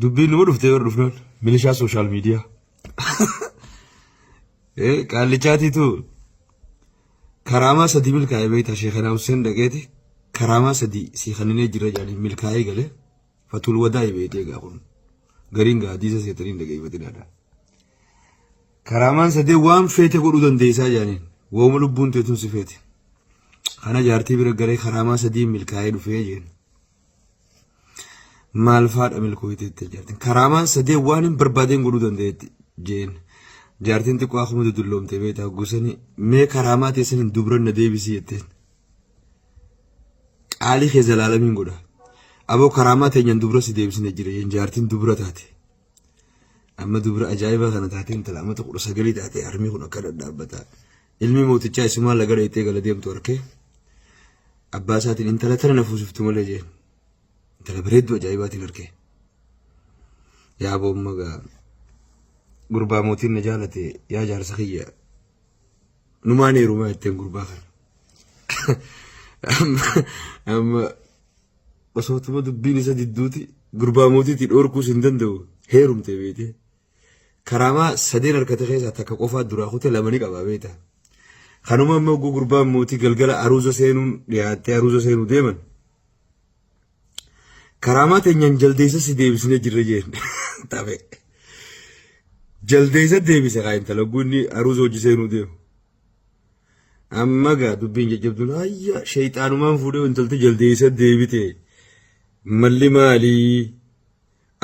Dubbiin numa dhuftee bara dhufnaan milishaa sooshaal miidiyaa. Qaallichaatiitu karaamaa sadii milkaa'ee beektaa sheekanaa Hussein dhaqeeti karaamaa sadii sii kaninee jira jedhanii milkaa'ee galee fatul wadaa beekte egaa kun gariin gaa hadiisa seetaniin dhageeffatinaadha. Karaamaan sadee waan feete godhuu dandeessaa jedhaniin wooma lubbuun teetuun si feete. Kana jaartii bira galee karaamaa sadii milkaa'ee dhufee jeen. maal faadha milkooyte itti jaartin karaamaan sadee waan hin barbaadeen godhuu dandeetti jeen jaartiin xiqqoo akkuma dudulloomte beektaa gusanii mee karaamaa teessan hin dubran na deebisii jetteen qaalii kee zalaalamiin godha aboo karaamaa teenyaan dubra si deebisne jira jeen jaartiin dubra taate amma dubra ajaa'ibaa kana taate intala amma kudha sagalii taate harmii kun akka dhadhaabbataa Ilmi mootichaa isumaa laga dhayxee gala deemtu arkee abbaa isaatiin intala tana na fuusiftu malee jeen. Intala bareedduu ajaa'ibaatiin arkee. Yaa boomma gaa gurbaa mootiin na jaalate yaa jaarsa kiyya numaan heerumaa jetteen gurbaa kana. Amma amma osootuma dubbiin isa didduuti gurbaa mootiitii dhoorkuus hin danda'u heerumte beekte. Karaamaa sadeen harkate keessaa takka qofaa duraa kute lama ni qaba beekta. Kanuma immoo oguu gurbaan mootii galgala aruuza seenuun dhiyaattee aruuza seenuu deeman. Karaamaa teenyaan jaldeessa si deebisnee jirra jeen. Taphee. Jaldeessa deebise kaa intala oguu inni aruuza hojii seenuu deemu. Amma gaa dubbiin jajjabduun ayya sheexaanumaan fuudhee intalti jaldeessa deebite. Malli maalii?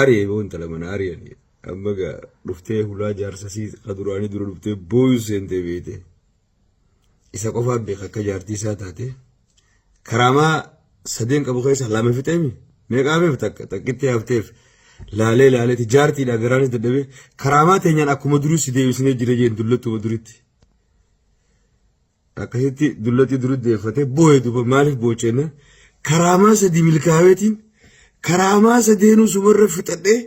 Ari'e boo intala manaa ari'ani amma gaa dhuftee hulaa jaarsa sii ka duraanii dura dhuftee booyuu seentee beeyte isa qofaa beeka akka jaartii isaa taate karaamaa sadeen qabu keessa lama fixeemi meeqaa beef takka takkitti hafteef laalee laaleeti jaartiidha garaanis dadhabee karaamaa teenyaan akkuma durii si deebisnee jira jeen dullattuma duritti. Akkasitti dullatii duri deeffatee boo'e duba maaliif boochenne karaamaa sadii milkaaweetiin karaamaa sadeenuu sumarra fixadhee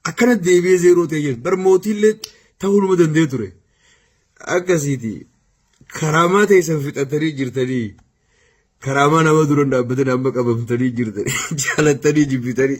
akkana deebi'ee zeeroo ta'e jedhu bar mootiillee ta'uu nama danda'e ture. Akkasiiti karaamaa teessan fixattanii jirtanii karaamaa nama dura hin dhaabbatin amma qabamtanii jirtanii jaalattanii jibbitanii.